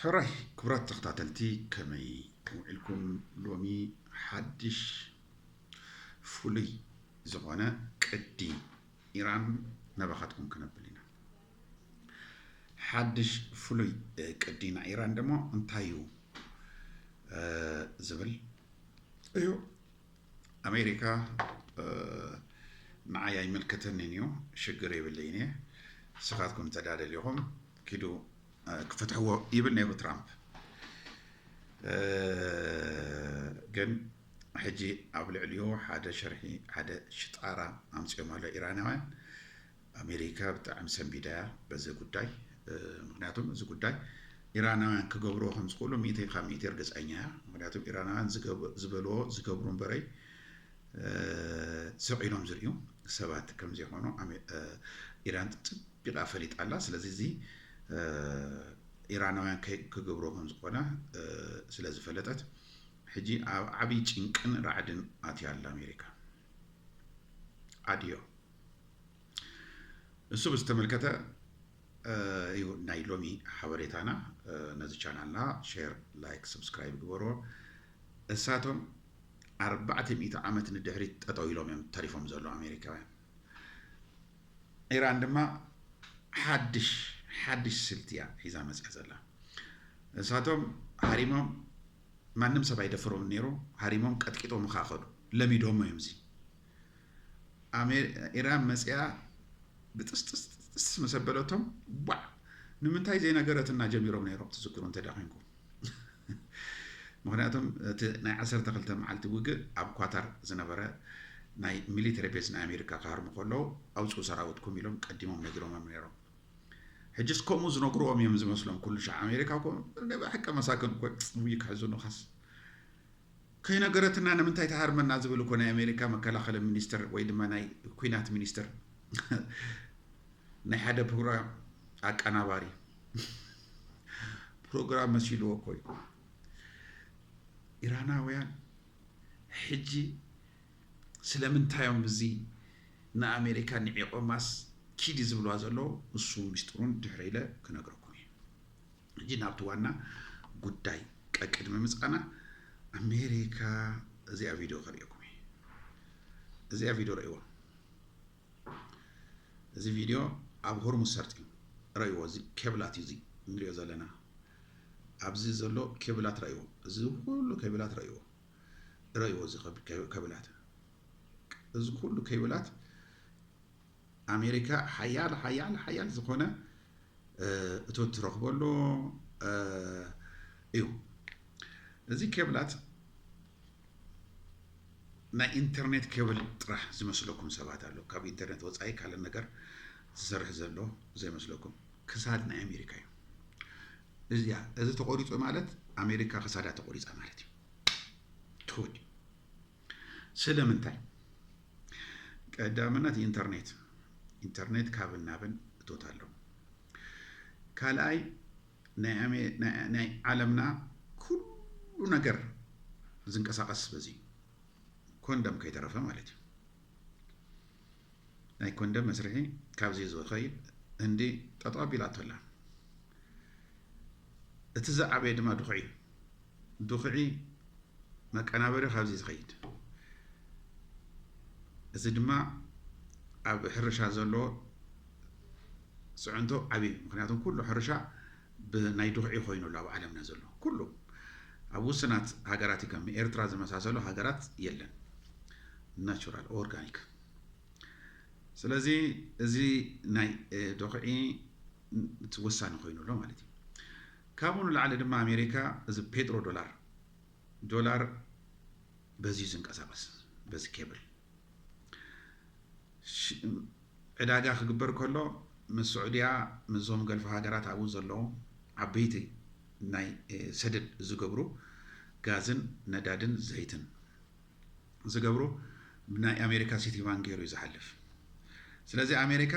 ሕራይ ክብራት ተኸታተልቲ ከመይ ከምውዒልኩም ሎሚ ሓድሽ ፍሉይ ዝኾነ ቅዲ ኢራን ናባኻትኩም ክነብል ኢና ሓድሽ ፍሉይ ቅዲ ናይ ኢራን ደሞ እንታይ እዩ ዝብል እዩ ኣሜሪካ ንዓይ ኣይምልከተንን እዩ ሽግር የብለይን እየ ንስኻትኩም እንተዳ ደሊኹም ኪዱ ክፈትሕዎ ይብል ነይሩ ትራምፕ ግን ሕጂ ኣብ ልዕሊኡ ሓደ ሸርሒ ሓደ ሽጣራ ኣምፂኦም ኣሎ ኢራናውያን ኣሜሪካ ብጣዕሚ ሰንቢዳ እያ በዚ ጉዳይ ምክንያቱም እዚ ጉዳይ ኢራናውያን ክገብርዎ ከም ዝኽእሉ ሚእተይ ካብ ሚእተይ እርግፀኛ እያ ምክንያቱም ኢራናውያን ዝበልዎ ዝገብሩ እምበረይ ስቕ ኢሎም ዝርእዩ ሰባት ከም ዘይኮኑ ኢራን ፅቢቓ ፈሊጣ ኣላ ስለዚ እዚ ኢራናውያን ክገብሮ ከም ዝኾነ ስለ ዝፈለጠት ሕጂ ኣብ ዓብዪ ጭንቅን ራዕድን ኣትያ ኣላ ኣሜሪካ ኣድዮ እሱ ብዝተመልከተ እዩ ናይ ሎሚ ሓበሬታና ነዚ ቻናልና ሼር ላይክ ሰብስክራይብ ግበርዎ እሳቶም ኣርባዕተ ሚእቲ ዓመት ንድሕሪት ጠጠው ኢሎም እዮም ተሪፎም ዘሎ ኣሜሪካውያን ኢራን ድማ ሓድሽ ሓድሽ ስልቲ እያ ሒዛ መፅያ ዘላ እሳቶም ሃሪሞም ማንም ሰብ ኣይደፍሮም ነይሩ ሃሪሞም ቀጥቂጦም ካ ከዱ ለሚዶሞ እዮም እዚ ኣሜ ኢራን መጺኣ ብጥስጥስጥስጥስ ምስ ኣበለቶም ቧዕ ንምንታይ ዘይነገረትና ጀሚሮም ነይሮም ትዝክሩ እንተ ኮንኩም ምክንያቱም እቲ ናይ 12 መዓልቲ ውግእ ኣብ ኳታር ዝነበረ ናይ ሚሊተሪ ቤዝ ናይ ኣሜሪካ ክሃርሙ ከለዉ ኣውፅኡ ሰራዊትኩም ኢሎም ቀዲሞም ነጊሮሞም ነይሮም ሕጅስ ከምኡ ዝነግርዎም እዮም ዝመስሎም ኩሉ ሻዕ ኣሜሪካ ኮ ብሓቂ መሳክን ኮ ውይ ከሕዝኑኻስ ከይነገረትና ንምንታይ ትሃርመና ዝብል እኮ ናይ ኣሜሪካ መከላኸሊ ሚኒስትር ወይ ድማ ናይ ኩናት ሚኒስትር ናይ ሓደ ፕሮግራም ኣቀናባሪ ፕሮግራም መሲልዎ እኮ እዩ ኢራናውያን ሕጂ ስለምንታዮም እዚ ንኣሜሪካ ንዒቆማስ ኪዲ ዝብልዋ ዘለዉ ንሱ ሚስጥሩን ድሕሪ ኢለ ክነግረኩም እዩ ሕጂ ናብቲ ዋና ጉዳይ ቀቅድሚ ምጻና ኣሜሪካ እዚኣ ቪድዮ ከርእየኩም እየ እዚኣ ቪድዮ ረእይዋ እዚ ቪድዮ ኣብ ሆርሙዝ ሰርጢ ረእይዎ እዚ ኬብላት እዩ እዚ ንሪኦ ዘለና ኣብዚ ዘሎ ኬብላት ረእይዎ እዚ ኩሉ ኬብላት ረእይዎ ረእይዎ እዚ ኬብላት እዚ ኩሉ ኬብላት ኣሜሪካ ሓያል ሓያል ሓያል ዝኾነ እቶት ትረኽበሉ እዩ። እዚ ኬብላት ናይ ኢንተርኔት ኬብል ጥራሕ ዝመስለኩም ሰባት ኣሎ። ካብ ኢንተርኔት ወፃኢ ካልእ ነገር ዝሰርሕ ዘሎ ዘይመስለኩም ክሳድ ናይ ኣሜሪካ እዩ። እዚኣ እዚ ተቆሪፁ ማለት ኣሜሪካ ክሳዳ ተቆሪፃ ማለት እዩ ትውድ ስለምንታይ ቀዳምነት ኢንተርኔት ኢንተርኔት ካብን ናብን እቶት ኣሎ ካልኣይ ናይ ዓለምና ኩሉ ነገር ዝንቀሳቐስ በዚ ኮንደም ከይተረፈ ማለት እዩ ናይ ኮንደም መስርሒ ካብዚ ዝኸይድ ህንዲ ጠጠው ኣቢላቶ ኣላ እቲ ዝዓበየ ድማ ድኹዒ እዩ ዱኽዒ መቀናበሪ ካብዚ እዩ ዝኸይድ። እዚ ድማ ኣብ ሕርሻ ዘሎ ፅዕንቶ ዓብይ እዩ። ምክንያቱም ኩሉ ሕርሻ ብናይ ዱኽዒ ኮይኑ ኣሎ ኣብ ዓለምና ዘሎ ኩሉ ኣብ ውስናት ሃገራት እዩ ከም ኤርትራ ዝመሳሰሉ ሃገራት የለን ናቹራል ኦርጋኒክ ስለዚ እዚ ናይ ዶኽዒ ወሳኒ ኮይኑ ኣሎ ማለት እዩ ካብኡ ንላዕሊ ድማ ኣሜሪካ እዚ ፔትሮ ዶላር፣ ዶላር በዚ እዩ ዝንቀሳቐስ በዚ ኬብል ዕዳጋ ክግበር ከሎ ምስ ስዑድያ ምስዞም ገልፍ ሃገራት ኣብኡ ዘለዉ ዓበይቲ ናይ ሰደድ ዝገብሩ ጋዝን ነዳድን ዘይትን ዝገብሮ ብናይ ኣሜሪካ ሲቲ ባንክ ገይሩ እዩ ዝሓልፍ ስለዚ ኣሜሪካ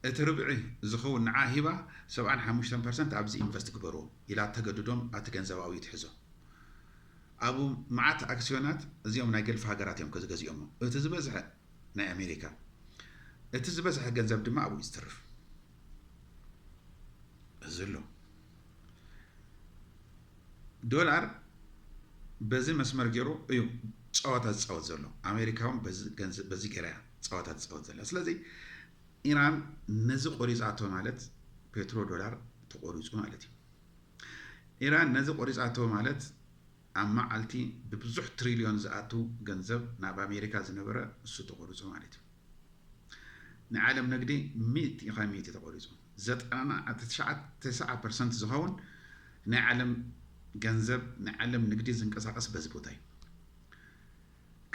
እቲ ርብዒ ዝኸውን ንዓ ሂባ ሰብዓን ሓሙሽተን ፐርሰንት ኣብዚ ኢንቨስት ግበርዎ ኢላ ተገድዶም ኣቲ ገንዘብ ኣብኡ ትሕዞ ኣብ መዓት ኣክስዮናት እዚኦም ናይ ገልፊ ሃገራት እዮም ዝገዚኦሞ እቲ ዝበዝሐ ናይ ኣሜሪካ እቲ ዝበዝሐ ገንዘብ ድማ ኣብኡ ዝትርፍ እዚ ኣሎ ዶላር በዚ መስመር ጌሩ እዩ ጸወታ ዝጻወት ዘሎ ኣሜሪካ ውን በዚ ገንዘብ በዚ ጌራ እያ ጸወታ ትጻወት ዘላ ስለዚ ኢራን ነዚ ቆሪጻቶ ማለት ፔትሮ ዶላር ተቆሪጹ ማለት እዩ ኢራን ነዚ ቆሪጻቶ ማለት ኣብ መዓልቲ ብብዙሕ ትሪልዮን ዝኣቱ ገንዘብ ናብ ኣሜሪካ ዝነበረ እሱ ተቆሪጹ ማለት እዩ ናይ ዓለም ንግዲ ሚእቲ ካብ ሚእቲ ተቖሪፁ። ዘጠና ትስዓ ፐርሰንት ዝኸውን ናይ ዓለም ገንዘብ ናይ ዓለም ንግዲ ዝንቀሳቐስ በዚ ቦታ እዩ።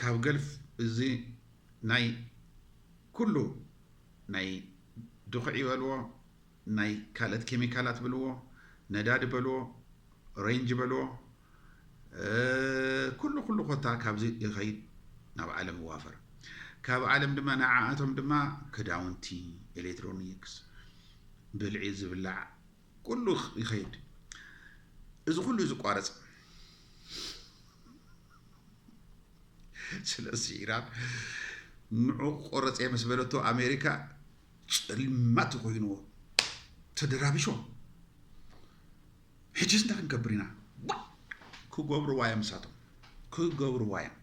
ካብ ገልፍ እዚ ናይ ኩሉ ናይ ድኹዒ በልዎ ናይ ካልእት ኬሚካላት ብልዎ ነዳዲ በልዎ ሬንጅ በልዎ ኩሉ ኩሉ ኮታ ካብዚ ይኸይድ ናብ ዓለም ይዋፈር ካብ ዓለም ድማ ንዓኣቶም ድማ ክዳውንቲ ኤሌክትሮኒክስ ብልዒ ዝብላዕ ኩሉ ይኸይድ እዚ ኩሉ እዩ ዝቋረፅ ስለዚ ኢራን ንዑ ቆረፀ ምስ በለቶ ኣሜሪካ ጸልማት ኮይንዎ ተደራቢሾም ሕጂስ እንታይ ክንገብር ኢና ክገብርዋ እዮም ንሳቶም ክገብርዋ እዮም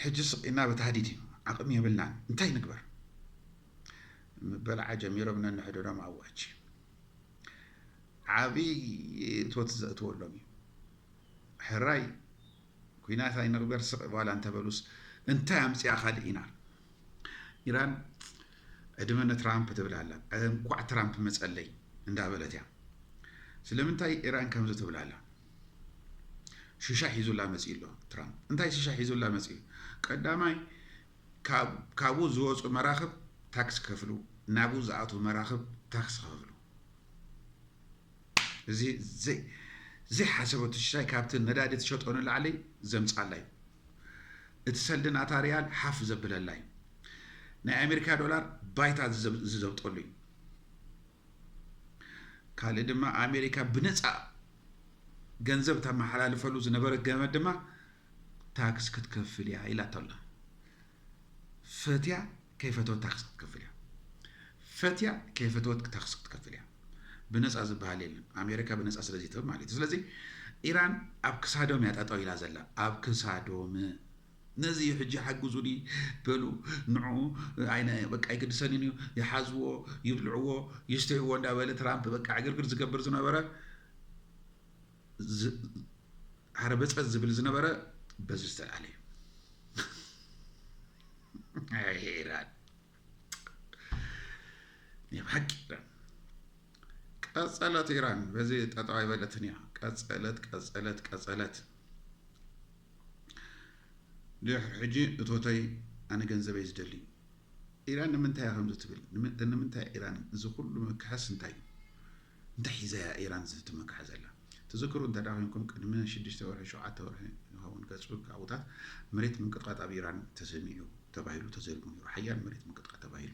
ሕጂ ስቂና ብታህዲድ እዩ ዓቕሚ የብልናን እንታይ ንግበር ምበልዓ ጀሚሮም ነንሕድሮም ኣዋጅ ዓብዪ እትወት ዘእትወሎም እዩ ሕራይ ኩናት ኣይንቕበር ስቕ በላ እንተበሉስ እንታይ ኣምፅኣ ካልእ ኢና ኢራን ዕድመ ንትራምፕ ትብል ኣላ እንኳዕ ትራምፕ መፀለይ እንዳበለት እያ ስለምንታይ ኢራን ከምዚ ትብል ኣላ ሽሻ ሒዙላ መፅኡ ኣሎ ትራምፕ እንታይ ሽሻ ሒዙላ መፅኡ ቀዳማይ ካብኡ ዝወፁ መራኽብ ታክስ ክከፍሉ ናብኡ ዝኣትዉ መራኽብ ታክስ ክከፍሉ እዚ ዘይሓሰበቶ ሽሻይ ካብቲ ነዳዲ ትሸጦ ንላዕሊ ዘምጻላ እዩ። እቲ ሰልዲ ናታ ሪያል ሓፍ ዘብለላ እዩ። ናይ ኣሜሪካ ዶላር ባይታ ዝዘብጠሉ እዩ። ካልእ ድማ ኣሜሪካ ብነፃ ገንዘብ ተመሓላልፈሉ ዝነበረት ገመድ ድማ ታክስ ክትከፍል እያ ኢላቶ ኣላ። ፈትያ ከይፈተወት ታክስ ክትከፍል እያ ፈትያ ከይፈተወት ታክስ ክትከፍል እያ ብነፃ ዝበሃል የለን ኣሜሪካ ብነፃ ስለዚ ትህብ ማለት እዩ ስለዚ ኢራን ኣብ ክሳዶም እያ ጠጠው ኢላ ዘላ ኣብ ክሳዶም ነዚ እዩ ሕጂ ሓግዙኒ በሉ ንዑ ኣይነ በቃ ይግድሰንን እዩ ይሓዝዎ ይብልዕዎ ይስተይዎ እንዳበለ ትራምፕ በቃ ዕግርግር ዝገብር ዝነበረ ዓረበፀ ዝብል ዝነበረ በዚ ዝተልዓለ እዩ ኢራን ናይ ብሓቂ ኢራን ቀፀለት ኢራን በዚ ጠጠው ኣይበለትን እያ ቀፀለት ቀፀለት ቀፀለት ድሕሪ ሕጂ እቶተይ ኣነ ገንዘበይ ዝደሊ ኢራን ንምንታይ ከምዚ ትብል ንምንታይ ኢራን እዚ ኩሉ ምክሐስ እንታይ እዩ እንታይ ሒዛያ ኢራን እዚ ትመክሐ ዘላ? ትዝክሩ እንተ ኮይንኩም ቅድሚ ሽዱሽተ ወርሒ ሸውዓተ ወርሒ ይኸውን ገጹ ካብኡታት መሬት ምንቅጥቃጥ ኣብ ኢራን ተሰሚዑ ተባሂሉ ተዘሪቡ ነይሩ። ሓያል መሬት ምንቅጥቃጥ ተባሂሉ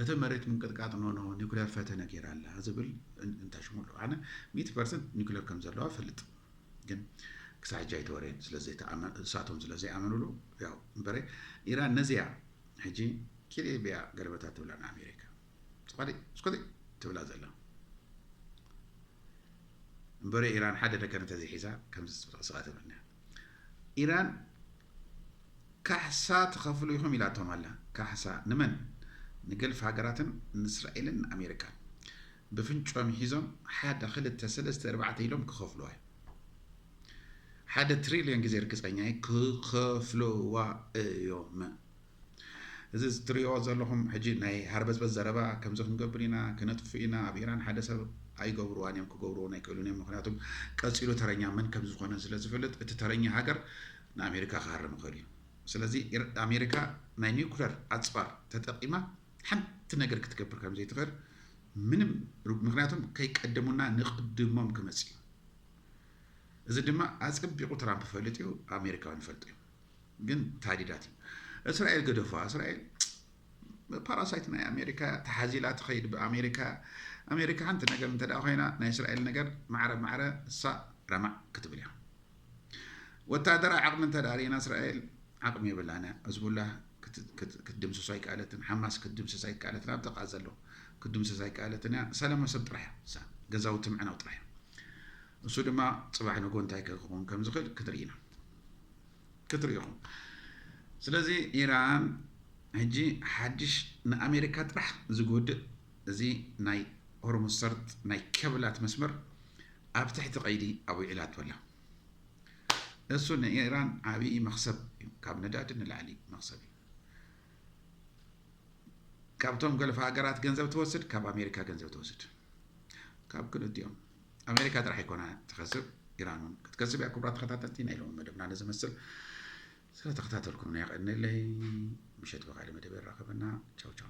እቲ መሬት ምንቅጥቃጥ ኖ ኖ ኒኩለር ፈተነ ገይራ ኣላ ዝብል እንታይ ሽሙ ኣሎ ኣነ ሚእቲ ፐርሰንት ኒኩለር ከም ዘለዋ ፈልጥ ግን ክሳዕ ሕጂ ኣይተወረየን ስለዘይተኣመን እሳቶም ስለዘይኣመንሉ ያው እምበረ ኢራን ነዚያ ሕጂ ኪልኤ ብያ ገለበታ ትብላ ንኣሜሪካ ስቆጢ ስቆጢ ትብላ ዘላ እምበረ ኢራን ሓደ ነገር እንተዘይሒዛ ከምዚ ስቃ ተብለና ኢራን ካሕሳ ትኸፍሉ ኢኹም ኢላቶም ኣላ ካሕሳ ንመን ንገልፍ ሃገራትን ንእስራኤልን ንኣሜሪካን ብፍንጮም ሒዞም ሓደ ክልተ ሰለስተ እርባዕተ ኢሎም ክኸፍልዋ እዩ ሓደ ትሪልዮን ግዜ ርግፀኛ ክኸፍልዋ እዮም እዚ ትሪእዎ ዘለኹም ሕጂ ናይ ሃርበዝበዝ ዘረባ ከምዚ ክንገብር ኢና ክነጥፍእ ኢና ኣብ ኢራን ሓደ ሰብ ኣይገብርዋን እዮም ክገብርዎን ኣይክእሉን እዮም ምክንያቱም ቀፂሉ ተረኛ መን ከም ዝኾነ ስለ ዝፍልጥ እቲ ተረኛ ሃገር ንኣሜሪካ ክሃርም ይኽእል እዩ ስለዚ ኣሜሪካ ናይ ኒኩለር ኣፅዋር ተጠቂማ ሓንቲ ነገር ክትገብር ከም ዘይትኽእል ምንም ምክንያቱም ከይቀደሙና ንቅድሞም ክመፅ እዩ እዚ ድማ ኣፀቢቑ ትራምፕ ፈልጥ እዩ ኣሜሪካውን ይፈልጡ እዩ ግን ታዲዳት እዩ እስራኤል ገደፉዋ እስራኤል ፓራሳይት ናይ ኣሜሪካ እያ ተሓዚላ ትኸይድ ብኣሜሪካ እያ ኣሜሪካ ሓንቲ ነገር እንተ ኮይና ናይ እስራኤል ነገር ማዕረ ማዕረ እሳ ረማዕ ክትብል እያ ወታደራዊ ዓቕሚ እንተ ርእና እስራኤል ዓቕሚ የብላን እያ ህዝቡላ ክትድምስሶ ኣይከኣለትን ሓማስ ክትድምስስ ኣይከኣለትን ኣብ ጥቃ ዘሎ ክትድምስስ ኣይከኣለትን እያ ሰላማዊ ሰብ ጥራሕ እያ ገዛውቲ ምዕናው ጥራሕ እያ ንሱ ድማ ጽባሕ ንግሆ እንታይ ክኸውን ከም ዝኽእል ክትርኢ ኢና ክትርኢ ኢኹም። ስለዚ ኢራን ሕጂ ሓድሽ ንኣሜሪካ ጥራሕ ዝጎድእ እዚ ናይ ሆርሙዝ ሰርጥ ናይ ኬብላት መስመር ኣብ ትሕቲ ቀይዲ ኣዊዒላቶ ኣላ። እሱ ንኢራን ዓብዪ መኽሰብ እዩ፣ ካብ ነዳዲ ንላዕሊ መኽሰብ እዩ። ካብቶም ገልፍ ሃገራት ገንዘብ ትወስድ፣ ካብ ኣሜሪካ ገንዘብ ትወስድ፣ ካብ ክልቲኦም ኣሜሪካ ጥራሕ ኣይኮና ትኸስብ ኢራን እውን ክትከስብ እያ። ክቡራት ተኸታተልቲ ናይ ሎሚ መደብና ነዚ መስል ስለተኸታተልኩምና የቐንለይ። ምሸት ብካልእ መደብ የራኸበና። ቻው ቻው።